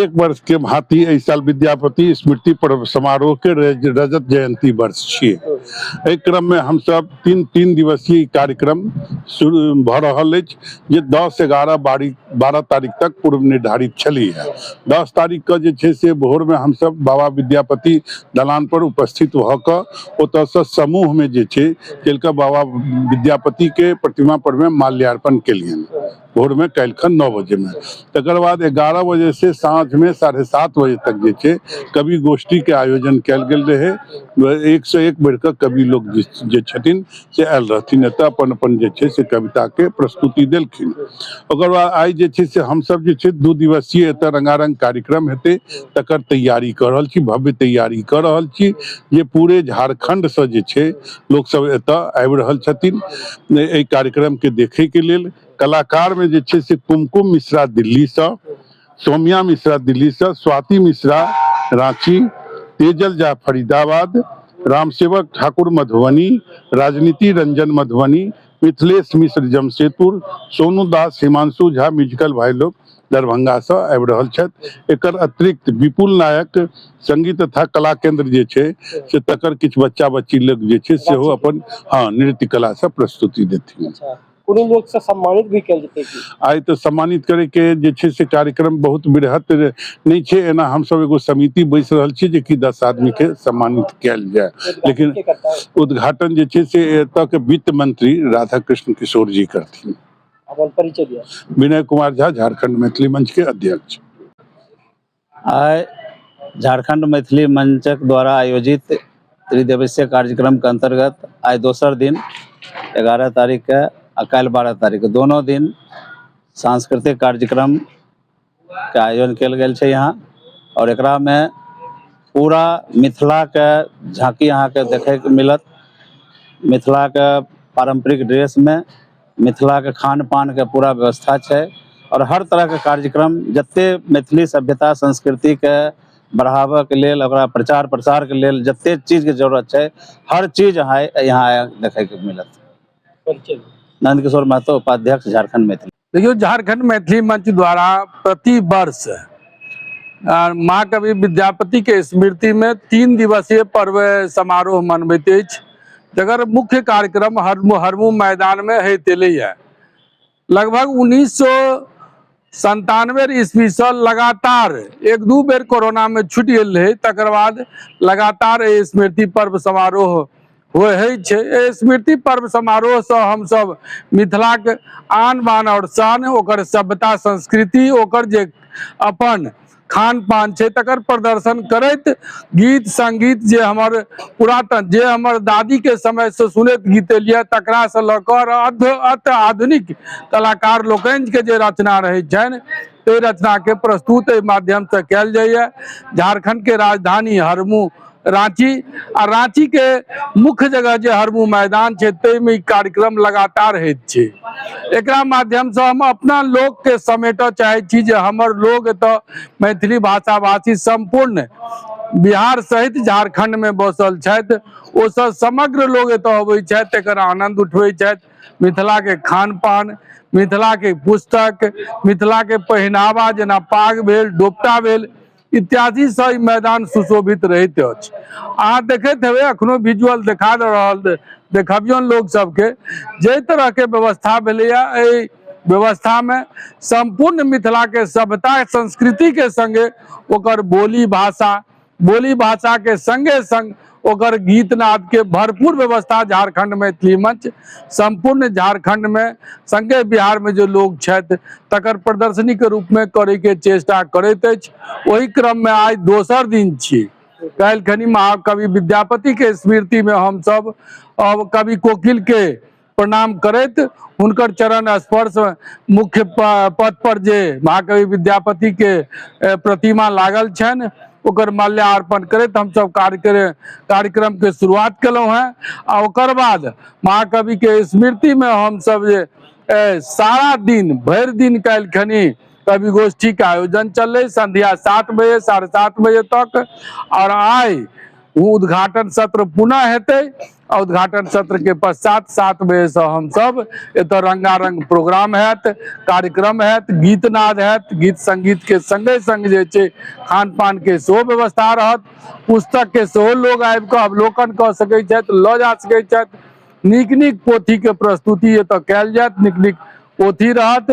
एक वर्ष के भांति एहि साल विद्यापति स्मृति पर्व समारोह के रज- रजत जयंती वर्ष छियै एहि क्रम में हम सब तीन तीन दिवसीय कार्यक्रम शुरू भऽ रहल अछि जे दस एगारह बारी बारह तारीख तक पूर्व निर्धारित छली है दस तारीख के जे छै से भोर में हम सब बाबा विद्यापति दलान पर उपस्थित भऽ कऽ ओतयसँ समूहमे जे छै केलका बाबा विद्यापतिके प्रतिमा परमे माल्यार्पण केलियनि भोरमे काल्हिखन नओ बजेमे तकर बाद एगारह बजेसँ साँझमे साढ़े सात बजे तक जे छै कवि गोष्ठीके आयोजन कयल गेल रहै एकसँ एक बढ़ि कऽ कवि लोक जे छथिन से आयल रहथिन एतऽ अपन अपन जे छै से कविता के प्रस्तुति देलखिन ओकर बाद आइ जे छै से हमसब जे छै दू दिवसीय एतऽ रंगारंग कार्यक्रम हेतै तकर तैयारी कऽ रहल छी भव्य तैयारी कऽ रहल छी जे पूरे झारखंड से जे छै लोक सब एतऽ आबि रहल छथिन एहि कार्यक्रम के देखे के लेल कलाकार में जे छै से कुमकुम मिश्रा दिल्ली से सौम्या मिश्रा दिल्ली से स्वाति मिश्रा रांची तेजल झा फरीदाबाद रामसेवक ठाकुर मधुबनी राजनीति रंजन मधुबनी मिथिलेश मिश्र जमशेदपुर सोनू दास हिमांशु झा म्यूजिकल भाई लोग दरभंगा से आबि रहल छथि एकर अतिरिक्त विपुल नायक संगीत तथा कला केंद्र जे छै से तकर किछु बच्चा बच्ची लोग जे छै सेहो अपन हँ नृत्य कला से प्रस्तुति देथिन अच्छा कोनो लोग से सम्मानित भी कल जेते की आइ तऽ सम्मानित करे के जे छै से कार्यक्रम बहुत बृहत नहि छै एना हम सब एगो समिति बैस रहल छी जे कि दस आदमी के सम्मानित कल जाय लेकिन उद्घाटन जे छै से एतऽ के वित्त मंत्री राधा कृष्ण किशोर जी करथिन अपन परिचय दिया विनय कुमार झा झारखंड मैथिली मंच के अध्यक्ष आइ झारखंड मैथिली मंचक द्वारा आयोजित त्रिदिवसीय कार्यक्रमके अन्तर्गत आइ दोसर दिन एगारह तारीखके आ काल्हि बारह तारीखके दोनो दिन सांस्कृतिक कार्यक्रमके आयोजन कयल गेल छै यहाँ आओर एकरामे पूरा मिथिलाके झाँकी अहाँके देखयके मिलत मिथिलाके पारम्परिक ड्रेसमे मिथिलाके खानपानके पूरा व्यवस्था छै आओर हर तरहके कार्यक्रम जते मैथिली सभ्यता संस्कृतिके बढ़ाबऽके लेल ओकरा प्रचार प्रसारके लेल जते चीजके जरूरत छै हर चीज अहाँ यहाँ देखैके मिलत नन्दकिशोर महतो उपाध्यक्ष झारखण्ड मैथिली देखियौ झारखण्ड मैथिली मंच द्वारा प्रति वर्ष महाकवि विद्यापति के स्मृति में तीन दिवसीय पर्व समारोह मनबैत अछि जकर मुख्य कार्यक्रम हरमू हरमू मैदान में होइत एलैए लगभग उन्नीस सौ संतानवे ईस्वी से लगातार एक दू बेर कोरोना में छुटि गेल रहे तकर बाद लगातार स्मृति पर्व समारोह होइ छै एहि स्मृति पर्व समारोहसँ हमसभ मिथिलाक आन बान आओर शान ओकर सभ्यता संस्कृति ओकर जे अपन खान पान छै तकर प्रदर्शन करैत गीत संगीत जे हमर पुरातन जे हमर दादी के समय से सुनैत गीत एलियै तकरा से लऽ कऽ अत आधुनिक कलाकार लोकनि के जे रचना रहै छनि ताहि रचना के प्रस्तुत एहि माध्यम से कयल जाइए झारखंड के राजधानी हरमू रांची आ रांची के मुख्य जगह जे हरमू मैदान छै ताहि में कार्यक्रम लगातार होइत छै एकरा माध्यम से हम अपना लोक के समेट चाहे छी जे हमर लोग एतऽ मैथिली भाषा भाषी संपूर्ण बिहार सहित झारखंड में बसल छथि ओ सब समग्र लोग एतऽ अबै छथि एकर आनंद उठबै छथि मिथिला के खान पान मिथिला के पुस्तक मिथिला के पहिनावा जेना पाग भेल डोपटा भेल इत्यादि से ई मैदान सुशोभित रहैत अछि अहाँ देखैत हेबै अखनो विजुअल देखा दऽ रहल देखबियौन लोक सबके जाहि तरहके व्यवस्था भेलैए एहि व्यवस्थामे सम्पूर्ण मिथिलाके सभ्यता संस्कृतिके सङ्गे ओकर बोली भाषा बोली भाषाके सङ्गे सङ्ग ओकर गीत नाद के भरपूर व्यवस्था झारखंड मैथिली मंच संपूर्ण झारखंड में संगे बिहार में जो लोग छथि तकर प्रदर्शनी के रूप में करे के चेष्टा करैत अछि ओहि क्रम में आइ दोसर दिन छी काल्हि खनी महाकवि विद्यापति के स्मृति में हम सब अब कवि कोकिल के प्रणाम करैत हुनकर चरण स्पर्श मुख्य पथ पर जे महाकवि विद्यापति के प्रतिमा लागल छनि ओकर माल्यार्पण करैत हमसभ कार्यक्रम कार्यक्रमके शुरुआत केलहुँ हेँ आ ओकर बाद महाकविके स्मृतिमे हमसभ जे सारा दिन भरि दिन काल्हिखनि कवि गोष्ठी के आयोजन चललै संध्या सात बजे साढ़े सात बजे तक और आय उद्घाटन सत्र पुनः हेतै उद्घाटन सत्र के पश्चात सात बजे से हम सब एत रंगारंग प्रोग्राम हैत कार्यक्रम हैत गीत नाद हैत गीत संगीत के संगे संग जे छै खान पान के सेहो व्यवस्था रहत पुस्तक के सेहो लोग आबि कऽ अवलोकन कऽ सकैत छथि लऽ जा सकैत छथि नीक नीक पोथी के प्रस्तुति एतऽ कयल जायत नीक नीक पोथी रहत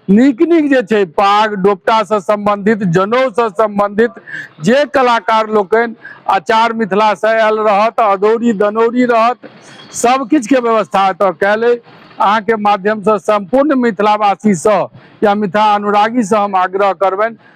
नीक नीक जे छै पाग डोपटासँ सम्बन्धित जनौसँ सम्बन्धित जे कलाकार लोकनि आचार मिथिलासँ आयल रहत अदौरी दनौरी रहत सब किछुके व्यवस्था एतऽ कयल अइ अहाँके माध्यमसँ सम्पूर्ण मिथिलावासीसँ या मिथिला अनुरागीसँ हम आग्रह करबनि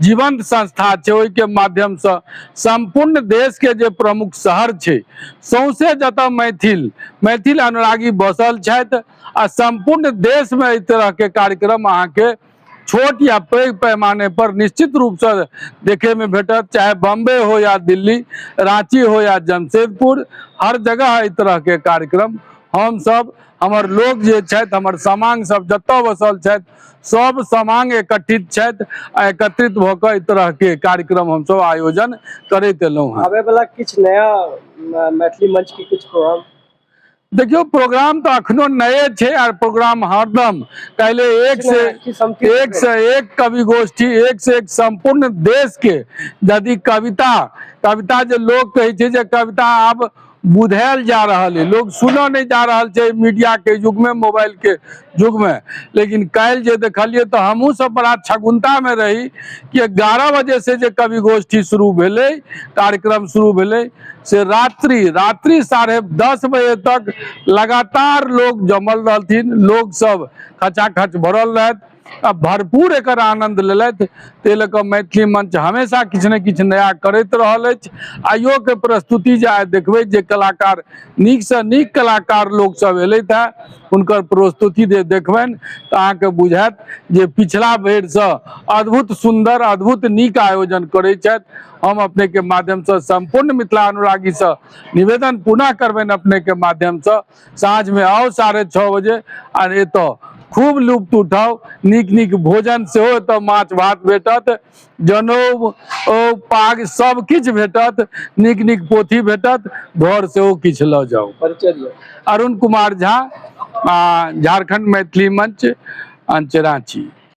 जीवंत संस्था छै ओहिके माध्यमसँ सम्पूर्ण देशके जे प्रमुख शहर छै सौंसे जतऽ मैथिल मैथिल अनुरागी बसल छथि आ सम्पूर्ण देशमे एहि तरहके कार्यक्रम अहाँके छोट या पैघ पैमाने पर निश्चित रूपसँ देखैमे भेटत चाहे बम्बे हो या दिल्ली राँची हो या जमशेदपुर हर जगह एहि तरहके कार्यक्रम हमसभ हमर लोक जे छथि हमर समांग सब जतऽ बसल छथि सब समांग एकत्रित छथि आ एकत्रित भऽ कऽ एहि तरहके कार्यक्रम हमसब आयोजन करैत एलहुँ हँ आबे वाला किछु नया मैथिली मंच के किछु प्रोग्राम देखियौ प्रोग्राम तऽ अखनो नए छै आर प्रोग्राम हरदम काल्हि एक से एक से एक कवि गोष्ठी एक से एक सम्पूर्ण देश के यदि कविता कविता जे लोक कहै छै जे कविता आब बुधायल जा रहल है लोग सुन नहीं जा रहल छै मीडिया के युग में मोबाइल के युग में लेकिन कल जे देखलिए तो हमहू सब बड़ा छगुनता में रही कि एगारह बजे से जे कवि गोष्ठी शुरू भेले कार्यक्रम शुरू भेले से रात्रि रात्रि साढ़े दस बजे तक लगातार लोग जमल रहथिन लोग सब खचाखच भरल रहत आ भरपूर एकर आनंद लेलथि ताहि लऽ कऽ मैथिली मंच हमेशा किछु ने किछु नया करैत रहल अछि आइयो के प्रस्तुति जे आइ देखबै जे कलाकार नीक से नीक कलाकार लोक सब एलथि है हुनकर प्रस्तुति जे देखबनि तऽ अहाँके बुझायत जे पिछला बेर से अद्भुत सुंदर अद्भुत नीक आयोजन करै छथि हम अपने के माध्यम से संपूर्ण मिथिला अनुरागी से निवेदन पुनः करबनि अपने के माध्यम से साँझ मे आउ साढ़े छओ बजे आर एतऽ खूब लुप्त उठाउ नीक नीक भोजन सेहो एतऽ माछ भात भेटत जनेउ ओ पाग सब किछु भेटत नीक नीक पोथी भेटत घर सेहो किछु लऽ जाउ अरुण कुमार झा आ झारखंड मैथिली मंच अंच रांची